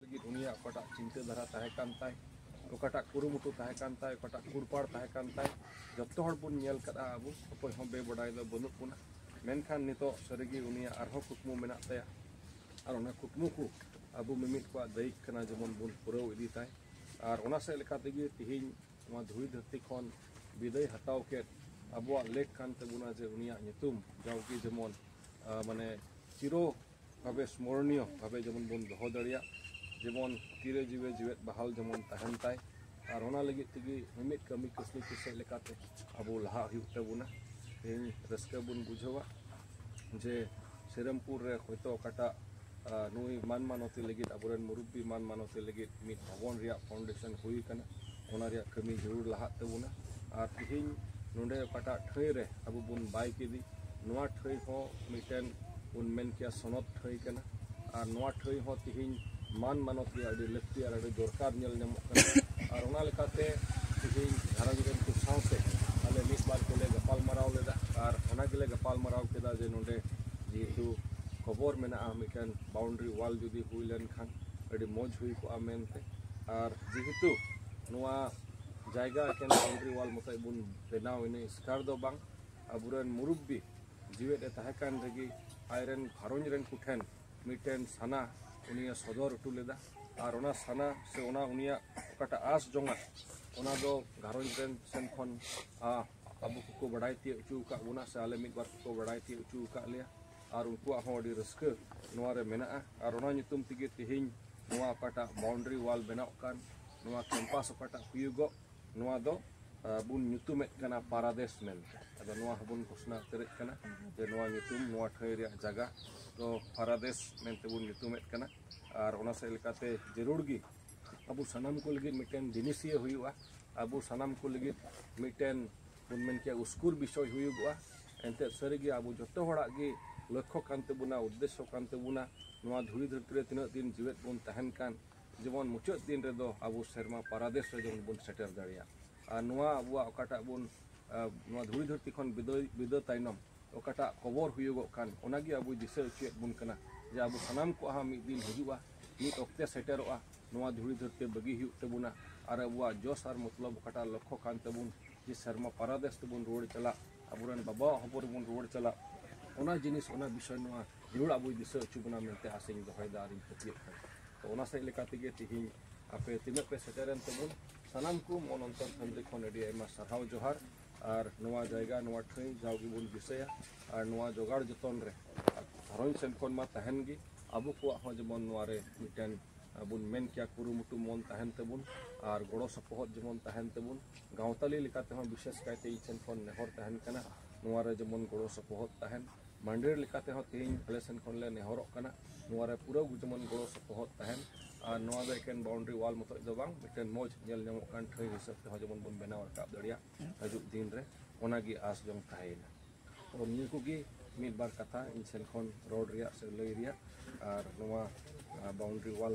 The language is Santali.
ᱞᱟᱹᱜᱤᱫ ᱩᱱᱤᱭᱟᱜ ᱚᱠᱟᱴᱟᱜ ᱪᱤᱱᱛᱟᱹ ᱫᱷᱟᱨᱟ ᱛᱟᱦᱮᱸ ᱠᱟᱱ ᱛᱟᱭ ᱚᱠᱟᱴᱟᱜ ᱠᱩᱨᱩᱢᱩᱴᱩ ᱛᱟᱦᱮᱸ ᱠᱟᱱ ᱛᱟᱭ ᱚᱠᱟᱴᱟᱜ ᱠᱩᱲᱯᱟᱲ ᱛᱟᱦᱮᱸ ᱠᱟᱱ ᱛᱟᱭ ᱡᱚᱛᱚ ᱦᱚᱲ ᱵᱚᱱ ᱧᱮᱞ ᱠᱟᱫᱟ ᱟᱵᱚ ᱚᱠᱚᱭ ᱦᱚᱸ ᱵᱮᱵᱟᱰᱟᱭ ᱫᱚ ᱵᱟᱹᱱᱩᱜ ᱵᱚᱱᱟ ᱢᱮᱱᱠᱷᱟᱱ ᱱᱤᱛᱚᱜ ᱥᱟᱹᱨᱤᱜᱮ ᱩᱱᱤᱭᱟᱜ ᱟᱨᱦᱚᱸ ᱠᱩᱠᱢᱩ ᱢᱮᱱᱟᱜ ᱛᱟᱭᱟ ᱟᱨ ᱚᱱᱟ ᱠᱩᱠᱢᱩ ᱠᱚ ᱟᱵᱚ ᱢᱤᱢᱤᱫ ᱠᱚᱣᱟᱜ ᱫᱟᱹᱭᱤᱠ ᱠᱟᱱᱟ ᱡᱮᱢᱚᱱ ᱵᱚᱱ ᱯᱩᱨᱟᱹᱣ ᱤᱫᱤ ᱛᱟᱭ ᱟᱨ ᱚᱱᱟ ᱥᱮᱫ ᱞᱮᱠᱟ ᱛᱮᱜᱮ ᱛᱮᱦᱮᱧ ᱱᱚᱣᱟ ᱫᱷᱩᱲᱤ ᱫᱷᱟᱹᱨᱛᱤ ᱠᱷᱚᱱ ᱵᱤᱫᱟᱹᱭ ᱦᱟᱛᱟᱣ ᱠᱮᱫ ᱟᱵᱚᱣᱟᱜ ᱞᱮᱠ ᱠᱟᱱ ᱛᱟᱵᱚᱱᱟ ᱡᱮ ᱩᱱᱤᱭᱟᱜ ᱧᱩᱛᱩᱢ ᱡᱟᱣᱜᱮ ᱡᱮᱢᱚᱱ ᱢᱟᱱᱮ ᱪᱤᱨᱚ ᱵᱷᱟᱵᱮ ᱥᱢᱚᱨᱚᱱᱤᱭᱚ ᱵᱷᱟᱵᱮ ᱡᱮᱢᱚᱱ ᱵᱚᱱ ᱫᱚᱦᱚ ᱫᱟᱲᱮᱭᱟᱜ ᱡᱮᱢᱚᱱ ᱛᱤᱨᱮ ᱡᱤᱣᱮ ᱡᱤᱣᱮᱫ ᱵᱟᱦᱟᱞ ᱡᱮᱢᱚᱱ ᱛᱟᱦᱮᱱ ᱛᱟᱭ ᱟᱨ ᱚᱱᱟ ᱞᱟᱹᱜᱤᱫ ᱛᱮᱜᱮ ᱢᱤᱢᱤᱫ ᱠᱟᱹᱢᱤ ᱠᱟᱹᱥᱱᱤ ᱠᱚ ᱥᱮᱫ ᱞᱮᱠᱟᱛᱮ ᱟᱵᱚ ᱞᱟᱦᱟ ᱦᱩᱭᱩᱜ ᱛᱟᱵᱚᱱᱟ ᱛᱮᱦᱮᱧ ᱨᱟᱹᱥᱠᱟᱹ ᱵᱚᱱ ᱵᱩᱡᱷᱟᱹᱣᱟ ᱡᱮ ᱥᱤᱨᱟᱢᱯᱩᱨ ᱨᱮ ᱦᱚᱭᱛᱳ ᱚᱠᱟᱴᱟᱜ ᱱᱩᱭ ᱢᱟᱱ ᱢᱟᱱᱚᱛᱤ ᱞᱟᱹᱜᱤᱫ ᱟᱵᱚᱨᱮᱱ ᱢᱩᱨᱩᱵᱵᱤ ᱢᱟᱱ ᱢᱟᱱᱚᱛᱤ ᱞᱟᱹᱜᱤᱫ ᱢᱤᱫ ᱵᱷᱚᱵᱚᱱ ᱨᱮᱭᱟᱜ ᱯᱷᱟᱣᱩᱱᱰᱮᱥᱚᱱ ᱦᱩᱭ ᱟᱠᱟᱱᱟ ᱚᱱᱟ ᱨᱮᱭᱟᱜ ᱠᱟᱹᱢᱤ ᱡᱟᱹᱨᱩᱲ ᱞᱟᱦᱟᱜ ᱛᱟᱵᱚᱱᱟ ᱟᱨ ᱛᱮᱦᱮᱧ ᱱᱚᱰᱮ ᱚᱠᱟᱴᱟᱜ ᱴᱷᱟᱹᱭ ᱨᱮ ᱟᱵᱚ ᱵᱚᱱ ᱵᱟᱭ ᱠᱮᱫᱮ ᱱᱚᱣᱟ ᱴᱷᱟᱹᱭ ᱦᱚᱸ ᱢᱤᱫᱴᱮᱱ ᱵᱚᱱ ᱢᱮᱱ ᱠᱮᱭᱟ ᱥᱚᱱᱚᱛ ᱴᱷᱟᱹᱭ ᱠᱟᱱᱟ ᱟᱨ ᱱᱚᱣᱟ ᱴᱷᱟᱹᱭ ᱦᱚᱸ ᱛᱮᱦᱮᱧ ᱢᱟᱱ ᱢᱟᱱᱚᱛ ᱨᱮᱭᱟᱜ ᱟᱹᱰᱤ ᱞᱟᱹᱠᱛᱤ ᱟᱨ ᱟᱹᱰᱤ ᱫᱚᱨᱠᱟᱨ ᱧᱮᱞ ᱧᱟᱢᱚᱜ ᱠᱟᱱᱟ ᱟᱨ ᱚᱱᱟ ᱞᱮᱠᱟᱛᱮ ᱛᱮᱦᱮᱧ ᱜᱷᱟᱨᱚᱸᱡᱽ ᱨᱮᱱ ᱠᱚ ᱥᱟᱶᱛᱮ ᱟᱞᱮ ᱢᱤᱫ ᱵᱟᱨ ᱠᱚᱞᱮ ᱜᱟᱯᱟᱞᱢᱟᱨᱟᱣ ᱞᱮᱫᱟ ᱟᱨ ᱚᱱᱟ ᱜᱮᱞᱮ ᱜᱟᱯᱟᱞᱢᱟᱨᱟᱣ ᱠᱮᱫᱟ ᱡᱮ ᱱᱚᱰᱮ ᱡᱮᱦᱮᱛᱩ ᱠᱷᱚᱵᱚᱨ ᱢᱮᱱᱟᱜᱼᱟ ᱢᱤᱫᱴᱮᱱ ᱵᱟᱣᱩᱱᱰᱨᱤ ᱣᱟᱞ ᱡᱩᱫᱤ ᱦᱩᱭ ᱞᱮᱱᱠᱷᱟᱱ ᱟᱹᱰᱤ ᱢᱚᱡᱽ ᱦᱩᱭ ᱠᱚᱜᱼᱟ ᱢᱮᱱᱛᱮ ᱟᱨ ᱡᱮᱦᱮᱛᱩ ᱱᱚᱣᱟ ᱡᱟᱭᱜᱟ ᱮᱠᱮᱱ ᱵᱟᱣᱩᱱᱰᱨᱤ ᱣᱟᱞ ᱢᱚᱛᱚᱡ ᱵᱚᱱ ᱵᱮᱱᱟᱣ ᱤᱱᱟᱹ ᱮᱥᱠᱟᱨ ᱫᱚ ᱵᱟᱝ ᱟᱵᱚᱨᱮᱱ ᱢᱩᱨᱩᱵᱵᱤ ᱡᱤᱣᱮᱫ ᱮ ᱛᱟᱦᱮᱸ ᱠᱟᱱ ᱨᱮᱜᱮ ᱟᱡᱨᱮᱱ ᱜᱷᱟᱨᱚᱸᱡᱽ ᱨᱮᱱ ᱠᱚᱴᱷᱮᱱ ᱢᱤᱫᱴᱮᱱ ᱥᱟᱱᱟ ᱩᱱᱤᱭ ᱥᱚᱫᱚᱨ ᱦᱚᱴᱚ ᱞᱮᱫᱟ ᱟᱨ ᱚᱱᱟ ᱥᱟᱱᱟ ᱥᱮ ᱚᱱᱟ ᱩᱱᱤᱭᱟᱜ ᱚᱠᱟᱴᱟᱜ ᱟᱥ ᱡᱚᱝᱟᱜ ᱚᱱᱟ ᱫᱚ ᱜᱷᱟᱨᱚᱸᱡᱽ ᱨᱮᱱ ᱥᱮᱱ ᱠᱷᱚᱱ ᱟᱵᱚ ᱠᱚᱠᱚ ᱵᱟᱰᱟᱭ ᱛᱤᱭᱳᱜ ᱦᱚᱪᱚ ᱟᱠᱟᱫ ᱵᱚᱱᱟ ᱥᱮ ᱟᱞᱮ ᱢᱤᱫ ᱵᱟᱨ ᱠᱚᱠᱚ ᱵᱟᱰᱟᱭ ᱛᱤᱭᱳᱜ ᱦᱚᱪᱚ ᱟᱠᱟᱫ ᱞᱮᱭᱟ ᱟᱨ ᱩᱱᱠᱩᱣᱟᱜ ᱦᱚᱸ ᱟᱹᱰᱤ ᱨᱟᱹᱥᱠᱟᱹ ᱱᱚᱣᱟ ᱨᱮ ᱢᱮᱱᱟᱜᱼᱟ ᱟᱨ ᱚᱱᱟ ᱧᱩᱛᱩᱢ ᱛᱮᱜᱮ ᱛᱮᱦᱮᱧ ᱱᱚᱣᱟ ᱚᱠᱟᱴᱟᱜ ᱵᱟᱣᱩᱱᱰᱨᱤ ᱣᱟᱞ ᱵᱮᱱᱟᱣ ᱠᱟᱱ ᱱᱚᱣᱟ ᱠᱮᱢᱯᱟᱥ ᱚᱠᱟᱴᱟᱜ ᱦᱩᱭᱩᱜᱚᱜ ᱱᱚᱣᱟ ᱫᱚ ᱵᱚᱱ ᱧᱩᱛᱩᱢᱮᱫ ᱠᱟᱱᱟ ᱯᱟᱨᱟᱫᱮᱥ ᱢᱮᱱᱛᱮ ᱟᱫᱚ ᱱᱚᱣᱟ ᱦᱚᱸᱵᱚᱱ ᱜᱷᱳᱥᱱᱟ ᱩᱛᱟᱹᱨᱮᱫ ᱠᱟᱱᱟ ᱡᱮ ᱱᱚᱣᱟ ᱧᱩᱛᱩᱢ ᱱᱚᱣᱟ ᱴᱷᱟᱹᱭ ᱨᱮᱭᱟᱜ ᱡᱟᱭᱜᱟ ᱫᱚ ᱯᱟᱨᱟᱫᱮᱥ ᱢᱮᱱᱛᱮ ᱵᱚᱱ ᱧᱩᱛᱩᱢᱮᱫ ᱠᱟᱱᱟ ᱟᱨ ᱚᱱᱟ ᱥᱮᱫ ᱞᱮᱠᱟᱛᱮ ᱡᱟᱹᱨᱩᱲ ᱜᱮ ᱟᱵᱚ ᱥᱟᱱᱟᱢ ᱠᱚ ᱞᱟᱹᱜᱤᱫ ᱢᱤᱫᱴᱮᱱ ᱫᱤᱱᱤᱥᱤᱭᱟᱹ ᱦᱩᱭᱩᱜᱼᱟ ᱟᱵᱚ ᱥᱟᱱᱟᱢ ᱠᱚ ᱞᱟᱹᱜᱤᱫ ᱢᱤᱫᱴᱮᱱ ᱵᱚᱱ ᱢᱮᱱ ᱠᱮᱭᱟ ᱩᱥᱠᱩᱨ ᱵᱤᱥᱚᱭ ᱦᱩᱭᱩᱜᱚᱜᱼᱟ ᱮᱱᱛᱮ ᱥᱟᱹᱨᱤᱜᱮ ᱟᱵᱚ ᱡᱚᱛᱚ ᱦᱚᱲᱟᱜ ᱜᱮ ᱞᱚᱠᱠᱷᱚ ᱠᱟᱱ ᱛᱟᱵᱚᱱᱟ ᱩᱫᱽᱫᱮᱥᱥᱚ ᱠᱟᱱ ᱛᱟᱵᱚᱱᱟ ᱱᱚᱣᱟ ᱫᱷᱩᱲᱤ ᱫᱷᱟᱹᱨᱛᱤ ᱨᱮ ᱛᱤᱱᱟᱹᱜ ᱫᱤᱱ ᱡᱤᱣᱮᱫ ᱵᱚᱱ ᱛᱟᱦᱮᱱ ᱠᱟᱱ ᱡᱮᱢᱚᱱ ᱢᱩᱪᱟᱹᱫ ᱫᱤᱱ ᱨᱮᱫᱚ ᱟᱵᱚ ᱥᱮᱨᱢᱟ ᱯᱟᱨᱟᱫᱮᱥ ᱨᱮ ᱡᱮᱢᱚᱱ ᱵᱚᱱ ᱥᱮᱴᱮᱨ ᱫᱟᱲᱮᱭᱟᱜ ᱟᱨ ᱱᱚᱣᱟ ᱟᱵᱚᱣᱟᱜ ᱚᱠᱟᱴᱟᱜ ᱵᱚᱱ ᱱᱚᱣᱟ ᱫᱷᱩᱲᱤ ᱫᱷᱟᱹᱨᱛᱤ ᱠᱷᱚᱱ ᱵᱤᱫᱟᱹᱭ ᱵᱤᱫᱟᱹ ᱛᱟᱭᱱᱚᱢ ᱚᱠᱟᱴᱟᱜ ᱠᱚᱵᱚᱨ ᱦᱩᱭᱩᱜᱚᱜ ᱠᱟᱱ ᱚᱱᱟᱜᱮ ᱟᱵᱚᱭ ᱫᱤᱥᱟᱹ ᱦᱚᱪᱚᱭᱮᱫ ᱵᱚᱱ ᱠᱟᱱᱟ ᱡᱮ ᱟᱵᱚ ᱥᱟᱱᱟᱢ ᱠᱚᱣᱟᱜ ᱦᱚᱸ ᱢᱤᱫ ᱫᱤᱱ ᱦᱤᱡᱩᱜᱼᱟ ᱢᱤᱫ ᱚᱠᱛᱮ ᱥᱮᱴᱮᱨᱚᱜᱼᱟ ᱱᱚᱣᱟ ᱫᱷᱩᱲᱤ ᱫᱷᱟᱹᱨᱛᱤ ᱵᱟᱹᱜᱤ ᱦᱩᱭᱩᱜ ᱛᱟᱵᱚᱱᱟ ᱟᱨ ᱟᱵᱚᱣᱟᱜ ᱡᱚᱥ ᱟᱨ ᱢᱚᱛᱞᱚᱵ ᱚᱠᱟᱴᱟᱜ ᱞᱚᱠᱠᱷᱚ ᱠᱟᱱ ᱛᱟᱵᱚᱱ ᱡᱮ ᱥᱮᱨᱢᱟ ᱯᱟᱨᱟᱫᱮᱥ ᱛᱮᱵᱚᱱ ᱨᱩᱣᱟᱹᱲ ᱪᱟᱞᱟᱜ ᱟᱵᱚᱨᱮᱱ ᱵᱟᱵᱟᱣᱟᱜ ᱦᱚᱵᱚᱨ ᱨᱮᱵᱚᱱ ᱨᱩᱣᱟᱹᱲ ᱪᱟᱞᱟᱜ ᱚᱱᱟ ᱡᱤᱱᱤᱥ ᱚᱱᱟ ᱵᱤᱥᱚᱭ ᱱᱚᱣᱟ ᱡᱟᱹᱨᱩᱲ ᱟᱵᱚᱭ ᱫᱤᱥᱟᱹ ᱦᱚᱪᱚ ᱵᱚᱱᱟ ᱢᱮᱱᱛᱮ ᱟᱥᱟᱧ ᱫᱚᱦᱚᱭᱮᱫᱟ ᱟᱨᱤᱧ ᱯᱟᱹᱛᱭᱟᱹᱜ ᱠᱟᱱᱟ ᱛᱚ ᱚᱱᱟ ᱥᱮᱫ ᱞᱮᱠᱟ ᱛᱮᱜᱮ ᱛᱮᱦᱮᱧ ᱟᱯᱮ ᱛᱤᱱᱟᱹᱜ ᱯᱮ ᱥᱮᱴᱮᱨᱮᱱ ᱛᱟᱵᱚᱱ ᱥᱟᱱᱟᱢ ᱠᱚ ᱢᱚᱱ ᱚᱱᱛᱚᱨ ᱠᱷᱚᱱ ᱟᱹᱰᱤ ᱟᱭᱢᱟ ᱥᱟᱨᱦᱟᱣ ᱡᱚᱦᱟᱨ ᱟᱨ ᱱᱚᱣᱟ ᱡᱟᱭᱜᱟ ᱱᱚᱣᱟ ᱴᱷᱟᱹᱭ ᱡᱟᱣ ᱜᱮᱵᱚᱱ ᱫᱤᱥᱟᱹᱭᱟ ᱟᱨ ᱱᱚᱣᱟ ᱡᱚᱜᱟᱲ ᱡᱚᱛᱚᱱ ᱨᱮ ᱜᱷᱟᱨᱚᱸᱡᱽ ᱥᱮᱱ ᱠᱷᱚᱱ ᱢᱟ ᱛᱟᱦᱮᱱ ᱜᱮ ᱟᱵᱚ ᱠᱚᱣᱟᱜ ᱦᱚᱸ ᱡᱮᱢᱚᱱ ᱱᱚᱣᱟ ᱨᱮ ᱢᱤᱫᱴᱮᱱ ᱵᱚᱱ ᱢᱮᱱ ᱠᱮᱭᱟ ᱠᱩᱨᱩᱢᱩᱴᱩ ᱢᱚᱱ ᱛᱟᱦᱮᱱ ᱛᱟᱵᱚᱱ ᱟᱨ ᱜᱚᱲᱚ ᱥᱚᱯᱚᱦᱚᱫ ᱡᱮᱢᱚᱱ ᱛᱟᱦᱮᱱ ᱛᱟᱵᱚᱱ ᱜᱟᱶᱛᱟᱞᱤ ᱞᱮᱠᱟᱛᱮ ᱦᱚᱸ ᱵᱤᱥᱮᱥ ᱠᱟᱭᱛᱮ ᱤᱧ ᱴᱷᱮᱱ ᱠᱷᱚᱱ ᱱᱮᱦᱚᱨ ᱛᱟᱦᱮᱱ ᱠᱟᱱᱟ ᱱᱚᱣᱟ ᱨᱮ ᱡᱮᱢᱚᱱ ᱜᱚᱲᱚ ᱥᱚᱯᱚᱦᱚᱫ ᱛᱟᱦᱮᱱ ᱢᱟᱱᱰᱮᱨ ᱞᱮᱠᱟᱛᱮ ᱦᱚᱸ ᱛᱮᱦᱮᱧ ᱟᱞᱮ ᱥᱮᱱ ᱠᱷᱚᱱ ᱞᱮ ᱱᱮᱦᱚᱨᱚᱜ ᱠᱟᱱᱟ ᱱᱚᱣᱟ ᱨᱮ ᱯᱩᱨᱟᱹ ᱡᱮᱢᱚᱱ ᱜᱚᱲᱚ ᱥᱚᱯᱚᱦᱚᱫ ᱛᱟᱦᱮᱱ ᱟᱨ ᱱᱚᱣᱟ ᱫᱚ ᱮᱠᱮᱱ ᱵᱟᱣᱩᱱᱰᱨᱤ ᱣᱟᱞ ᱢᱚᱛᱚᱡ ᱫᱚ ᱵᱟᱝ ᱢᱤᱫᱴᱮᱱ ᱢᱚᱡᱽ ᱧᱮᱞ ᱧᱟᱢᱚᱜ ᱠᱟᱱ ᱴᱷᱟᱹᱭ ᱦᱤᱥᱟᱹᱵ ᱛᱮᱦᱚᱸ ᱡᱮᱢᱚᱱ ᱵᱚᱱ ᱵᱮᱱᱟᱣ ᱨᱟᱠᱟᱵ ᱫᱟᱲᱮᱭᱟᱜ ᱦᱤᱡᱩᱜ ᱫᱤᱱ ᱨᱮ ᱚᱱᱟᱜᱮ ᱟᱥ ᱡᱚᱝ ᱛᱟᱦᱮᱸᱭᱮᱱᱟ ᱛᱚ ᱱᱤᱭᱟᱹ ᱠᱚᱜᱮ ᱢᱤᱫ ᱵᱟᱨ ᱠᱟᱛᱷᱟ ᱤᱧ ᱥᱮᱱ ᱠᱷᱚᱱ ᱨᱚᱲ ᱨᱮᱭᱟᱜ ᱥᱮ ᱞᱟᱹᱭ ᱨᱮᱭᱟᱜ ᱟᱨ ᱱᱚᱣᱟ ᱵᱟᱣᱩᱱᱰᱨᱤ ᱣᱟᱞ